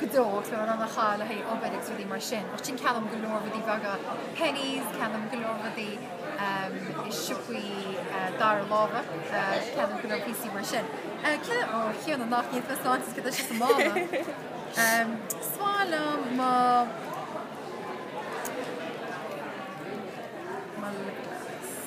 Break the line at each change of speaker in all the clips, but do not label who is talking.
go deo, so in ann a chaitheamh le haghaidh obair agus rudaí mar sin. Ach sin ceannaím go leor rudaí beaga, Penneys, ceannaím go leor rudaí i siopaí dara láimhe, ceannaím go leor píosaí mar sin. Ceannaím, ó cheanna nach iad fes áitis go leis go mála. Sálam má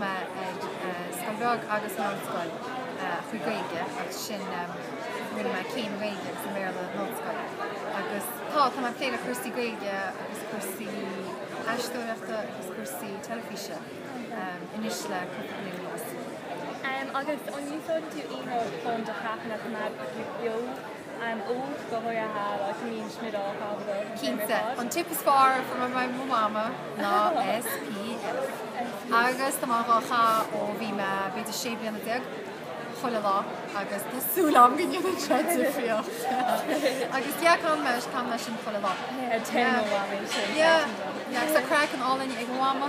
mé ag scoil bheag agus meánscoil trí Gaeilge agus sin rinne mé céim Gaeilge agus sa mBéarla in ollscoil agus tá, tá mé ag plé le cúrsaí Gaeilge agus cúrsaí aisteoireachta agus cúrsaí teilifíse anois le cúpla bliain anuas.
Agus an úsáideann tú aon rud chun do chraiceann a choimeád beo? Cinnte, an
tip is fearr a fuair mé ó mo mhama ná SPF. Agus tá mé á chaitheamh ó bhí mé b'fhéidir sé bliana déag, chuile lá agus tá súil agam go ndéanfaidh sé difríocht. Agus yeah caitheann mé, caitheann mé sin chuile lá. Yeah, yeah, yeah, agus tá craiceann álainn ag mo mhama.